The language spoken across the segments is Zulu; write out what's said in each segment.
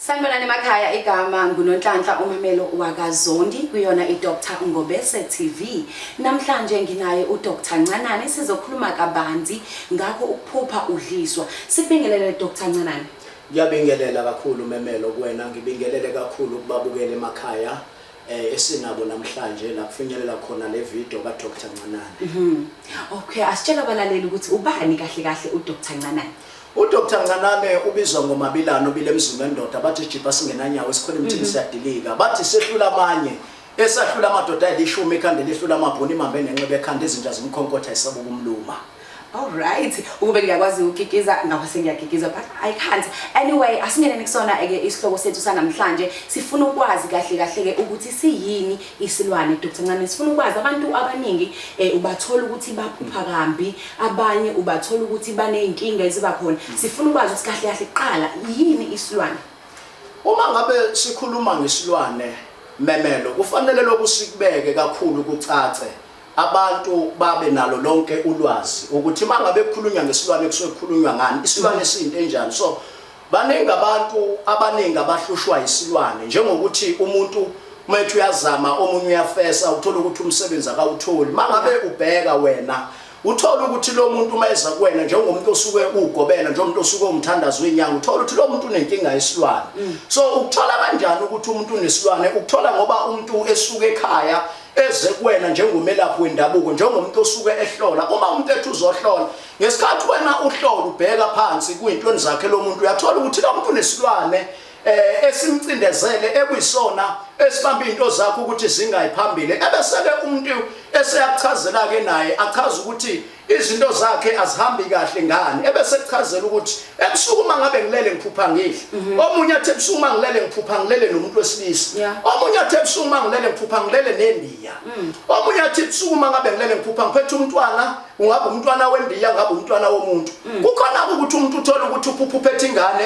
Sanibonani emakhaya igama nguNonhlanhla uMamelo wakaZondi kuyona iDr Ngobese TV. Namhlanje nginaye uDr Ncanani sizokhuluma kabanzi ngakho ukuphupha udliswa. Sibingelele Dr Ncanani. Ngiyabingelela kakhulu Memelo kuwena ngibingelele kakhulu kubabukeli emakhaya eh, esinabo namhlanje la kufinyelela khona le video ka Dr Ncanani. Okay, asitshela abalaleli ukuthi ubani kahle kahle uDr Ncanani. UDr Ncanane ubizwa ngoMabilane obile emzini wendoda bathi isijibha singenanyawo esikhona emthini mhm. siyadilika bathi sehlula amanye esahlula amadoda ayilishumi ekhanda elihlula amabhuni imambe nenxeba ekhanda izinja zimkhonkotha isaba ukumluma Alright, ukube ngiyakwazi ukukikiza ngapha sengiyakikiza but I can't. Anyway, asingeneni kusona eke isihloko sethu sanamhlanje. Sifuna ukwazi kahle kahle ke ukuthi siyini isilwane Dr. Ncane. Sifuna ukwazi abantu abaningi eh ubathola ukuthi baphupha kambi Abanye ubathola ukuthi baney'nkinga eziba khona. Sifuna ukwazi ukuthi kahle kahle kuqala yini isilwane? Uma ngabe sikhuluma ngesilwane memelo kufanele lokhu sikubeke kakhulu kucace abantu babe nalo lonke ulwazi ukuthi uma ngabe kukhulunywa ngesilwane kusuke kukhulunywa ngani isilwane siyinto enjani so Baningi abantu abaningi abahlushwa yisilwane njengokuthi umuntu methi uyazama omunye uyafesa uthola ukuthi umsebenzi akawutholi mangabe ubheka wena uthola ukuthi lo muntu uma eza kuwena njengomuntu osuke ugobela njengomuntu osuke umthandazi wenyanga uthola ukuthi lo muntu unenkinga yesilwane mm. so ukuthola kanjani ukuthi umuntu unesilwane ukuthola ngoba umuntu esuke ekhaya eze kuwena njengomelaphi wendabuko njengomuntu osuke ehlola uma umuntu ethi uzohlola Ngesikhathi wena uhlola ubheka phansi kuyintweni zakhe lo muntu uyathola ukuthi lo muntu unesilwane eh esimcindezele ekuyisona esibamba into zakho ukuthi zingayi phambili ebeseke umuntu eseyakuchazela ke naye achaza ukuthi izinto zakhe azihambi kahle ngani ebese kuchazela ukuthi ebusuku uma ngabe ngilele ngiphupha ngidla mhm. omunye athi ebusuku uma ngilele ngiphupha ngilele nomuntu wesilisa omunye athi ebusuku uma ngilele ngiphupha ngilele nendiya mm. omunye athi ebusuku uma ngabe ngilele ngiphupha ngiphethe umntwana ungaba umntwana wembiya ungaba umntwana womuntu mm. kukhona ukuthi umuntu uthole ukuthi uphuphe ethi ingane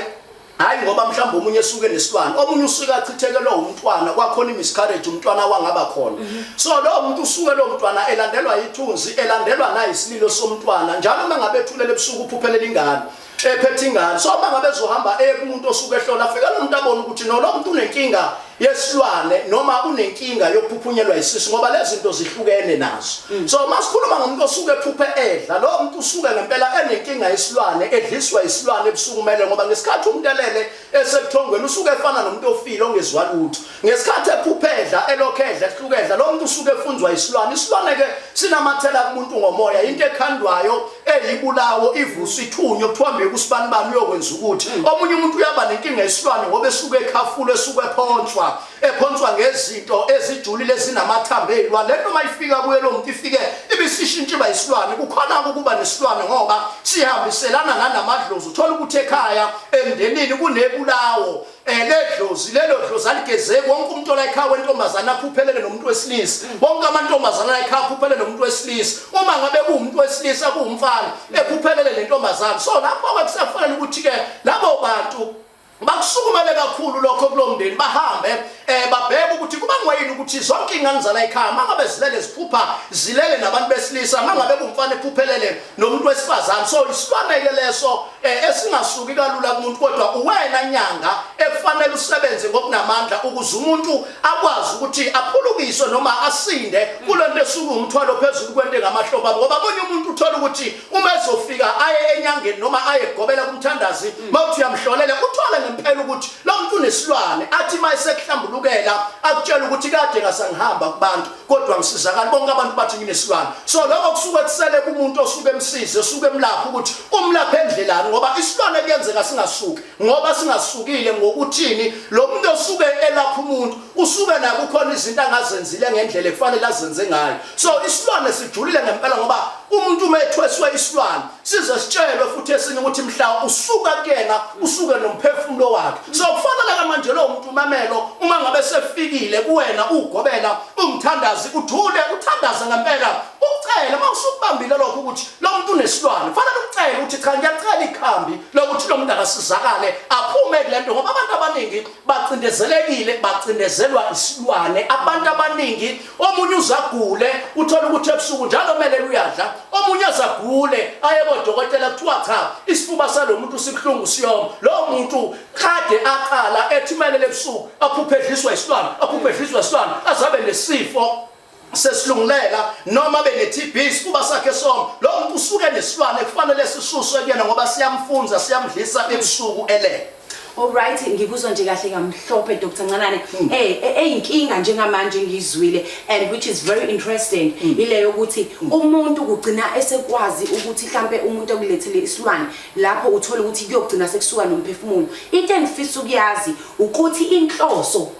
hayi ngoba mhlawumbe omunye esuke nesilwane omunye usuke achithekelwe umntwana kwakhona imiscarriage umntwana wangaba khona mm-hmm. so lowo muntu usuke lo mntwana elandelwa yithunzi elandelwa nayisililo somntwana njalo uma ngabe ethulele ebusuku uphuphelela ingane ephethe ingane so uma ngabe zohamba ekumuntu osuke ehlola afika lo muntu abone ukuthi no lo muntu unenkinga yesilwane noma unenkinga yokuphuphunyelwa isisu ngoba lezi zinto zihlukene nazo mm. so uma sikhuluma ngomuntu osuke ephuphe edla lo muntu usuke ngempela enenkinga yesilwane edliswa isilwane ebusuku kumele ngoba ngesikhathi umuntu elele Esebuthongweni usuke efana nomuntu ofile ongezwa lutho. Ngesikhathi ephupha edla, elokhu edla, ehluka edla, lo muntu usuke efunzwa isilwane. Isilwane-ke sinamathela kumuntu ngomoya, into ekhandwayo, eyibulawo, ivuswa, ithunywe, kuthiwa mbeka usibanibani uyokwenza ukuthi. Omunye umuntu uyaba nenkinga yesilwane ngoba esuke ekhafulwa, esuke ephonswa. ephonswa ngezinto ezijulile ezinamathambo eyilwane le nto uma ifika kuye lo muntu ifike ibisishintsha iba yisilwane kukhona-ke ukuba nesilwane ngoba sihambiselana nanamadlozi uthole ukuthi ekhaya emndenini kunebulawo um eh, ledlozi lelo dlozi aligezeki wonke umuntu olayikhaya wentombazane aphuphelele nomuntu wesilisa wonke amantombazane alayikhaya aphuphelele nomuntu wesilisa uma ngabe kuwumuntu wesilisa kuwumfana ephuphelele le ntombazane so lapho-ke kusakufanele ukuthi-ke labo bantu bakusukumele kakhulu lokho kulomndeni bahambe eh babheke ukuthi kuba ngoyini ukuthi zonke ingane zala ekhaya mangabe zilele ziphupha zilele nabantu besilisa mangabe kumfana ephuphelele nomuntu wesifazane so isilwane ke leso eh, esingasuki kalula kumuntu kodwa uwena nyanga ekufanele usebenze ngokunamandla ukuze umuntu akwazi ukuthi aphulukiswe noma asinde kulento esuku umthwalo phezulu kwento engamahlobo ngoba omunye umuntu uthola ukuthi uma ezofika aye enyangeni noma aye gobela kumthandazi mawuthi uyamhlolela uthole ngempela ukuthi lo muntu unesilwane athi uma esekuhlambulukela akutshela ukuthi kade ngasangihamba kubantu kodwa ngisizakala bonke abantu bathi nginesilwane so lokho kusuke kusele kumuntu osuke emsize osuke emlapha ukuthi umlapha endlelani ngoba isilwane kuyenzeka singasuki ngoba singasukile ngokuthini lo muntu osuke elapha umuntu usuke naye kukhona izinto angazenzile ngendlela ekufanele azenze ngayo so isilwane sijulile ngempela ngoba umuntu uma ethweswe isilwane size sitshelwe futhi esinye ukuthi mhla usuka kuyena usuke nomphefumulo wakhe so kufanele ke manje lowo muntu umamelo uma ngabe sefikile kuwena ugobela umthandazi uthule uthandaze ngempela Ukucela uma usukubambile lokho ukuthi lo muntu unesilwane kufanele ucele ukuthi cha ngiyacela ikhambi lokuthi lo muntu akasizakale aphume kule nto ngoba abantu abaningi bacindezelekile bacindezelwa isilwane abantu abaningi omunye uzagule uthole ukuthi ebusuku njalo kumele luyadla omunye azagule aye kodokotela kuthiwa cha isifuba salo muntu sibuhlungu siyoma lowo muntu kade aqala ethumelele ebusuku aphuphe edliswa isilwane aphuphe edliswa isilwane azabe nesifo sesilungulela noma bene-TB isifuba sakhe somo lo muntu usuke nesilwane kufanele sisuswe kuyena ngoba siyamfunza siyamdlisa ebusuku elele Alright ngikuzwa nje kahle kamhlophe Dr Ncanane hmm. eh, eh eyinkinga njengamanje ngizwile and which is very interesting hmm. ile yokuthi hmm. umuntu kugcina esekwazi ukuthi mhlambe umuntu okulethele isilwane lapho uthola ukuthi kuyogcina sekusuka nomphefumulo into engifisa ukuyazi ukuthi inhloso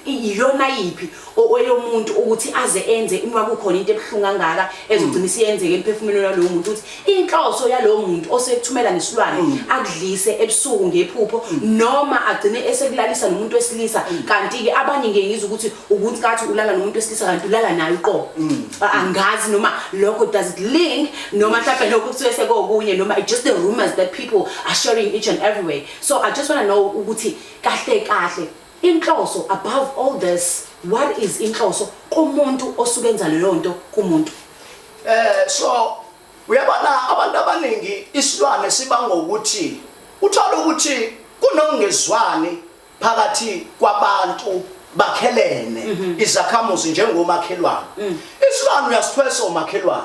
iyona yiphi oyomuntu ukuthi aze enze uma kukhona into ebuhlungu kangaka ezogcina isiyenzeka emphefumulweni walowo muntu ukuthi inhloso yalowo muntu osekuthumela nesilwane mm. akudlise ebusuku ngephupho mm. noma agcine esekulalisa nomuntu wesilisa mm. kanti-ke abanye ngiye ngizwa ukuthi ukuthi kathi ulala nomuntu wesilisa kanti ulala naye uqobo angazi noma lokho does it link noma mhlawumbe lokho kuthiwe sekokunye noma just the rumors that people are sharing each and every way so i just want to know ukuthi kahle kahle Inhloso above all this what is inhloso kumuntu osuke enza leyonto kumuntu. Eh so uyabona abantu abaningi isilwane sibanga ukuthi uthola ukuthi kunongezwani phakathi kwabantu bakhelene mhm. izakhamuzi njengomakhelwane mm. isilwane uyasithwesa umakhelwane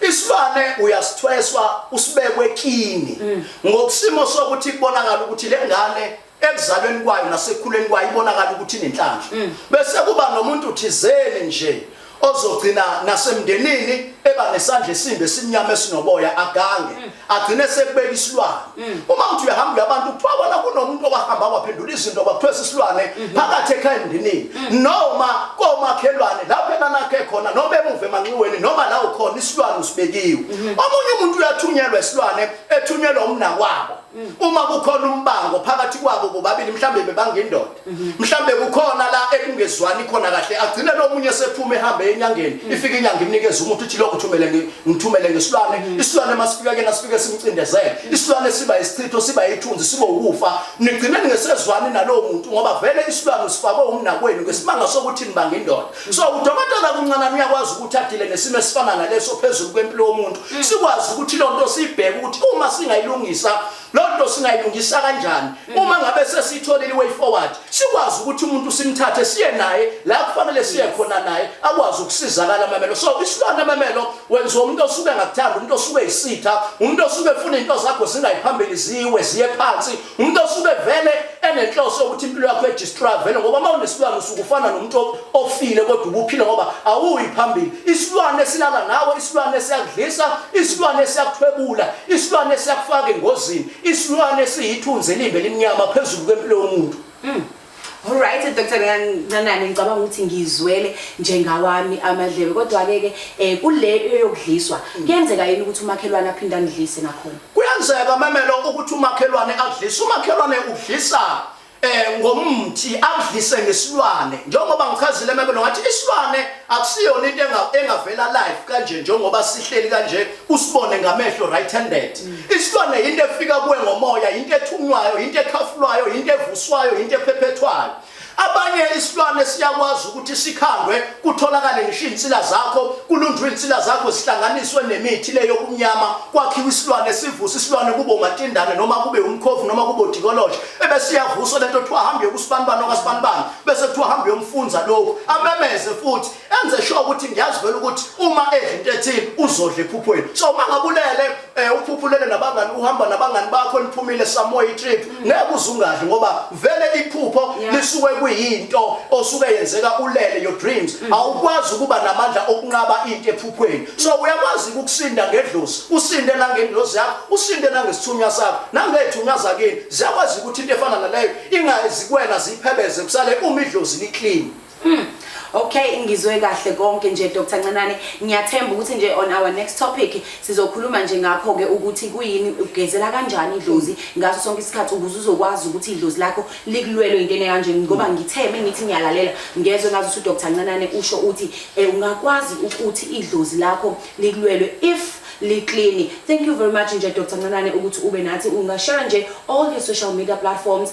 isilwane uyasithweswa usibekwe kini mm. ngokusimo sokuthi kubonakala ukuthi le ngane ekuzalweni kwayo nasekhuleni kwayo ibonakala ukuthi inenhlanhla mm. bese kuba nomuntu thizeni nje ozogcina nasemndenini eba nesandla esimbe simnyama esinoboya agange mm. agcine sekubeka isilwane mm. uma uthi uyahamba abantu kuthiwa bona kunomuntu owahamba waphendula izinto kwakuthiwa sisilwane mm-hmm. phakathi ekhaya emndenini noma komakhelwane lapho enanakhe khona noma emuva emanxiweni noma la ukhona isilwane usibekiwe mm-hmm. omunye umuntu uyathunyelwa isilwane ethunyelwa umnakwabo Mm. uma kukhona umbango phakathi kwabo bobabili mhlambe bebangendoda mhm. mhlambe kukhona la ekungezwani khona kahle agcine lo munye sephuma ehambe enyangeni mm. ifike inyanga imnikeza umuntu uthi lokho thumele ngithumele ngesilwane mm. isilwane masifika kena sifike simcindezele isilwane siba isichitho siba ithunzi siba ukufa nigcine ningesezwani nalowo muntu ngoba vele isilwane usifakwe umnakwenu ngesimanga sokuthi nibangendoda So udokotela kuncanana uyakwazi ukuthi adile nesimo esifana naleso phezulu kwempilo yomuntu mm. sikwazi ukuthi lo nto sibheke ukuthi uma singayilungisa lo nto singayilungisa kanjani mm. uma ngabe sesitholile i-way forward sikwazi ukuthi umuntu simthathe siye naye la kufanele siye khona naye akwazi ukusizakala amamelo so isilwane amamelo wenziwa umuntu osuke ngakuthanda umuntu osuke yisitha umuntu osuke efuna into zakho zingayiphambili ziwe ziye phansi umuntu osuke vele enenhloso yokuthi impilo yakho edistroya vele ngoba uma unesilwane usuke ufana nomuntu ofile kodwa ubuphile ngoba awuyi phambili isilwane esilala nawe isilwane esiyakudlisa isilwane esiyakuthwebula isilwane esiyakufaka engozini isilwane esiyithunzi elimbe elimnyama phezulu kwempilo yomuntu mm. Alright Dr. Nanane ngicabanga ukuthi ngizwele njengawami amadlebe kodwa ke ke eh kule eyokudliswa mm. kuyenzeka yini ukuthi umakhelwane aphinde andlise nakhona Kuyenzeka mamelo ukuthi umakhelwane adlise umakhelwane udlisa eh ngomthi akudlise ngesilwane njengoba ngichazile mabelo ngathi isilwane akusiyona into engavela live kanje njengoba sihleli kanje usibone ngamehlo right handed isilwane yinto efika kuwe ngomoya yinto ethunywayo yinto ekhafulwayo yinto evuswayo yinto ephephethwayo abanye isilwane siyakwazi ukuthi sikhandwe kutholakale ngisho izinsila zakho kulunjwe izinsila zakho zihlanganiswe nemithi le yokumnyama kwakhiwa isilwane sivusa isilwane kube umatindane noma kube umkhovu noma kube udikoloshe ebesiyavuswa lento kuthiwa hambe yokusibanibani okasibanibani bese kuthiwa hambe yomfunza lokhu amemeze futhi enze sure ukuthi ngiyazi vele ukuthi uma edla into ethile uzodla ephuphweni so uma ngabulele um eh, uphuphulele nabangani uhamba nabangani bakho niphumile samoya itrip mm. ngeke uzungadli ngoba vele iphupho lisuke kuyinto osuke yenzeka ulele your dreams mm. awukwazi ukuba namandla okunqaba into ephuphweni so mm. uyakwazi ukusinda ngedlozi usinde nangendlozi yakho usinde nangesithunywa sakho nangethunywa zakini ziyakwazi ukuthi into efana naleyo ingazikwena ziphebeze kusale uma idlozi liclean Hmm. Okay ngizwe kahle konke nje Dr Ncenane ngiyathemba ukuthi nje on our next topic sizokhuluma nje ngakho ke ukuthi kuyini ugezela kanjani idlozi ngaso sonke isikhathi ukuze uzokwazi ukuthi idlozi lakho likulwelwe into enekanje ngoba hmm. ngitheme ngithi ngiyalalela ngezwe ngazi ukuthi Dr Ncenane usho uthi eh, ungakwazi ukuthi idlozi lakho likulwelwe if liclean thank you very much nje Dr Ncanane ukuthi ube nathi ungashare nje all your social media platforms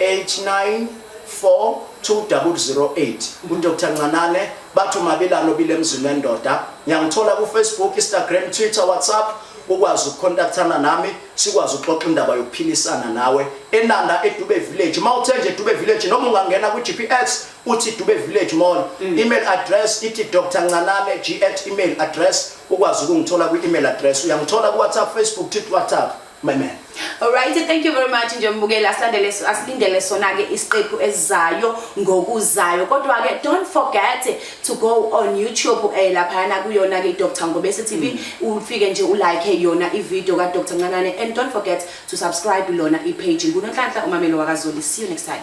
894208 uDr Ncanane bathi umabelano obile emzini wendoda ngiyangithola kufacebook instagram twitter whatsapp ukwazi ukukhontaktana nami sikwazi ukuxoxa indaba yokuphilisana nawe enanda edube village uma uthe nje dube village noma ungangena kwi-gps uthi dube village mall mm. email address ithi dr ncanane g at email address ukwazi ukungithola kwi-email address uyangithola kuwhatsapp facebook twitter whatsapp my man Alright, thank you very much nje mbukeli asilandele asilindele sona ke isiqephu esizayo ngokuzayo kodwa ke don't forget to go on YouTube eh lapha na kuyona ke Dr Ngobese TV mm. ufike nje u like yona i video ka Dr Ncanane and don't forget to subscribe lona i page ngunonhlanhla umamelo wakazoli see you next time